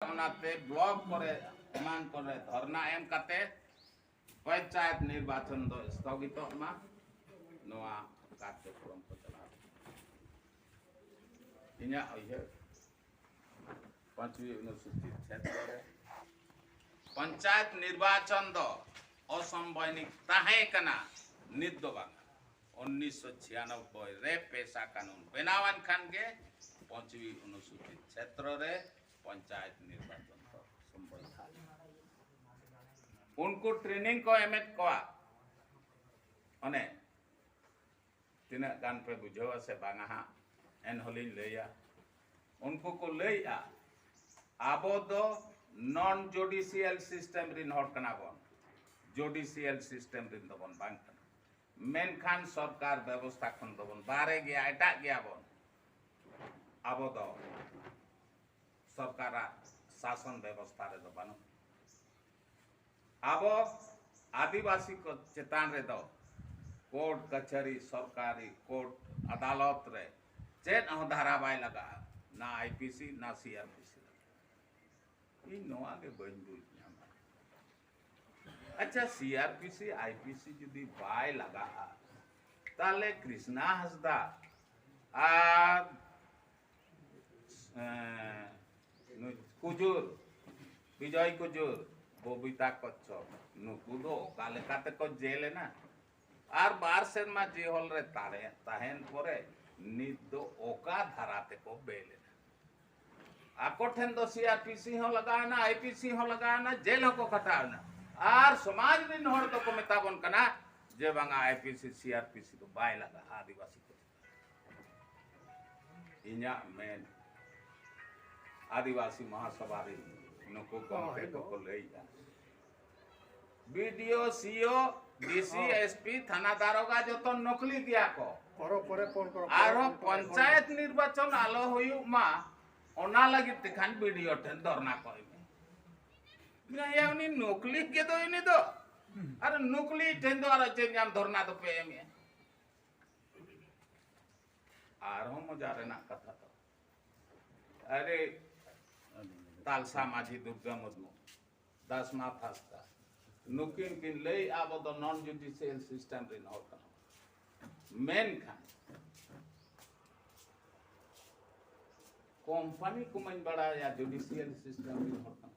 ᱚᱱᱟᱛᱮ ᱵᱞᱚᱠ ᱠᱚᱨᱮ ᱮᱢᱟᱱ ᱠᱚᱨᱮ ᱫᱷᱚᱨᱱᱟ ᱮᱢ ᱠᱟᱛᱮ ᱯᱚᱧᱪᱟᱭᱮᱛ ᱱᱤᱨᱵᱟᱪᱚᱱ ᱫᱚ ᱥᱛᱷᱚᱜᱤᱛᱚᱜ ᱢᱟ ᱱᱚᱣᱟ ᱠᱟᱨᱡᱚᱠᱨᱚᱢ ᱠᱚ ᱪᱟᱞᱟᱣ ᱤᱧᱟᱹᱜ ᱩᱭᱦᱟᱹᱨ ᱯᱟᱸᱪᱣᱤ ᱚᱱᱩᱥᱩᱪᱤ ᱠᱷᱮᱛᱨᱮ ᱨᱮ ᱯᱚᱧᱪᱟᱭᱮᱛ ᱱᱤᱨᱵᱟᱪᱚᱱ ᱫᱚ ᱚᱥᱚᱢᱵᱚᱭᱱᱤᱠ ᱛᱟᱦᱮᱸ ᱠᱟᱱᱟ ᱱᱤᱛ ᱫᱚ ᱵᱟᱝ ᱩᱱᱤᱥᱥᱚ ᱪᱷᱤᱭᱟᱱᱚᱵᱵᱚᱭ ᱨᱮ ᱯᱮᱥᱟ ᱠᱟᱹᱱᱩᱱ ᱵᱮᱱᱟᱣᱟᱱ ᱠᱷᱟᱱ ᱜᱮ ᱯᱟᱸᱪᱣᱤ ᱚᱱᱩᱥᱩᱪᱤ ᱠᱷᱮᱛᱨᱚ ᱨᱮ ᱯᱚᱧᱪᱟᱭᱮᱛ ᱱᱤᱨᱵᱟᱪᱚᱱ ᱠᱚ ᱥᱚᱢᱵᱚᱭᱫᱷᱟ ᱩᱱᱠᱩ ᱴᱨᱮᱱᱤᱝ ᱠᱚ ᱮᱢᱮᱫ ᱠᱚᱣᱟ ᱚᱱᱮ ᱛᱤᱱᱟᱹᱜ ᱜᱟᱱ ᱯᱮ ᱵᱩᱡᱷᱟᱹᱣᱟ ᱥᱮ ᱵᱟᱝᱟ ᱦᱟᱸᱜ ᱮᱱᱦᱚᱸᱞᱤᱧ ᱞᱟᱹᱭᱟ ᱩᱱᱠᱩ ᱠᱚ ᱞᱟᱹᱭᱮᱜᱼᱟ ᱟᱵᱚ ᱫᱚ ᱱᱚᱱ ᱡᱩᱰᱤᱥᱤᱭᱟᱞ ᱥᱤᱥᱴᱮᱢ ᱨᱤᱱ ᱦᱚᱲ ᱠᱟᱱᱟ ᱵᱚᱱ ᱡᱩᱰᱤᱥᱤᱭᱟᱞ ᱥᱤᱥᱴᱮᱢ ᱨᱤᱱ ᱫᱚᱵᱚᱱ ᱵᱟᱝ ᱠᱟᱱᱟ ᱢᱮᱱᱠᱷᱟᱱ ᱥᱚᱨᱠᱟᱨ ᱵᱮᱵᱚᱥᱛᱷᱟ ᱠᱷᱚᱱ ᱫᱚᱵᱚᱱ ᱵᱟᱦᱨᱮ ᱜᱮᱭᱟ ᱮᱴᱟᱜ ᱜᱮᱭᱟ ᱵᱚᱱ ᱟᱵᱚ ᱫᱚ ᱥᱚᱨᱠᱟᱨᱟᱜ ᱥᱟᱥᱚᱱ ᱵᱮᱵᱚᱥᱛᱷᱟ ᱨᱮᱫᱚ ᱵᱟᱹᱱᱩᱜ ᱟᱵᱚ ᱟᱹᱫᱤᱵᱟᱹᱥᱤ ᱠᱚ ᱪᱮᱛᱟᱱ ᱨᱮᱫᱚ ᱠᱳᱨᱴ ᱠᱟᱪᱷᱟᱨᱤ ᱥᱚᱨᱠᱟᱨᱤ ᱠᱳᱨᱴ ᱟᱫᱟᱞᱚᱛ ᱨᱮ ᱪᱮᱫ ᱦᱚᱸ ᱫᱷᱟᱨᱟ ᱵᱟᱭ ᱞᱟᱜᱟᱜᱼᱟ ᱱᱟ ᱟᱭ ᱯᱤ ᱥᱤ ᱱᱟ ᱥᱤ ᱟᱨ ᱯᱤ ᱥᱤ ᱤᱧ ᱱᱚᱣᱟ ᱜᱮ ᱵᱟᱹᱧ ᱵᱩᱡᱽ ᱧᱟᱢᱟ ᱟᱪᱪᱷᱟ C R P C I P C ᱡᱩᱫᱤ ᱵᱟᱭ ᱞᱟᱜᱟᱜᱼᱟ ᱛᱟᱦᱞᱮ ᱠᱨᱤᱥᱱᱟ ᱦᱟᱸᱥᱫᱟ ᱟᱨ ᱠᱩᱡᱩᱨ ᱵᱤᱡᱚᱭ ᱠᱩᱡᱩᱨ ᱵᱚᱵᱤᱛᱟ ᱠᱚᱪᱪᱚᱯ ᱱᱩᱠᱩ ᱫᱚ ᱚᱠᱟ ᱞᱮᱠᱟ ᱛᱮᱠᱚ ᱡᱮᱞ ᱮᱱᱟ ᱟᱨ ᱵᱟᱨ ᱥᱮᱨᱢᱟ ᱡᱤᱦᱚᱞ ᱨᱮ ᱛᱟᱦᱮᱸ ᱛᱟᱦᱮᱱ ᱯᱚᱨᱮ ᱱᱤᱛ ᱫᱚ ᱚᱠᱟ ᱫᱷᱟᱨᱟ ᱛᱮᱠᱚ ᱵᱮᱞ ᱮᱱᱟ ᱟᱠᱚ ᱴᱷᱮᱱ ᱫᱚ ᱥᱤᱟᱨᱯᱤᱥᱤ ᱦᱚᱸ ᱞᱟᱜᱟᱣᱮᱱᱟ ᱟᱭᱯᱤᱥᱤ ᱦᱚᱸ ᱞᱟᱜᱟᱣᱮᱱᱟ ᱡᱮᱞ ᱦᱚᱸᱠᱚ ᱠᱷᱟᱴᱟᱣᱮᱱᱟ ᱟᱨ ᱥᱚᱢᱟᱡᱽ ᱨᱤᱱ ᱦᱚᱲ ᱫᱚᱠᱚ ᱢᱮᱛᱟ ᱵᱚᱱ ᱠᱟᱱᱟ ᱡᱮ ᱵᱟᱝᱟ ᱟᱭᱯᱤᱥᱤ ᱥᱤᱟᱨᱯᱤᱥᱤ ᱫᱚ ᱵᱟᱭ ᱞᱟᱜᱟᱜᱼᱟ ᱟᱹᱫᱤᱵᱟᱹᱥᱤ ᱠᱚ ᱤᱧᱟᱹᱜ ᱢᱮᱱ ᱟᱹᱫᱤᱵᱟᱹᱥᱤ ᱢᱚᱦᱟᱥᱚᱵᱷᱟ ᱨᱤᱱ ᱱᱩᱠᱩ ᱜᱚᱢᱠᱮ ᱠᱚᱠᱚ ᱞᱟᱹᱭᱮᱫᱼᱟ ᱵᱤᱰᱤᱳ ᱥᱤᱳ ᱰᱤᱥᱤ ᱮᱥᱯᱤ ᱛᱷᱟᱱᱟ ᱫᱟᱨᱚᱜᱟ ᱡᱚᱛᱚ ᱱᱚᱠᱞᱤ ᱜᱮᱭᱟ ᱠᱚ ᱟᱨᱦᱚᱸ ᱯᱚᱧᱪᱟᱭᱮᱛ ᱱᱤᱨᱵᱟᱪᱚᱱ ᱟᱞᱚ ᱦᱩᱭᱩᱜ ᱢᱟ ᱚᱱᱟ ᱞᱟᱹᱜᱤᱫ ᱛᱮᱠᱷᱟᱱ ᱵᱤᱰᱤᱳ ᱴᱷᱮᱱ ᱫᱷᱚᱨᱱᱟ ᱠᱚ ᱮᱢᱮᱭᱟ ᱩᱱᱤ ᱱᱚᱠᱞᱤ ᱜᱮᱫᱚ ᱩᱱᱤ ᱫᱚ ᱟᱨ ᱱᱚᱠᱞᱤ ᱴᱷᱮᱱ ᱫᱚ ᱟᱨᱚ ᱪᱮᱫ ᱧᱟᱢ ᱫᱷᱚᱨᱱᱟ ᱫᱚᱯᱮ ᱮᱢᱮᱭᱟ ᱟᱨᱦᱚᱸ ᱢᱚᱡᱟ ᱨᱮᱱᱟᱜ ᱠᱟᱛᱷᱟ ᱫᱚ ᱟᱨᱮ ᱛᱟᱞᱥᱟ ᱢᱟᱹᱡᱷᱤ ᱫᱩᱨᱜᱟ ᱢᱩᱨᱢᱩ ᱫᱟᱥ ᱱᱟᱛᱷ ᱦᱟᱸᱥᱫᱟ ᱱᱩᱠᱤᱱ ᱠᱤᱱ ᱞᱟᱹᱭ ᱟᱵᱚ ᱫᱚ ᱱᱚᱱ ᱡᱩᱰᱤᱥᱤᱭᱟᱞ ᱥᱤᱥᱴᱮᱢ ᱨᱤᱱ ᱦᱚᱲ ᱠᱟᱱᱟ ᱢᱮᱱᱠᱷᱟᱱ ᱠᱚᱢᱯᱟᱱᱤ ᱠᱚᱢᱟᱧ ᱵᱟᱲᱟᱭᱟ ᱡᱩᱰᱤᱥᱤᱭᱟᱞ ᱥᱤᱥᱴᱮᱢ ᱨᱤᱱ ᱦᱚᱲ ᱠᱟᱱᱟ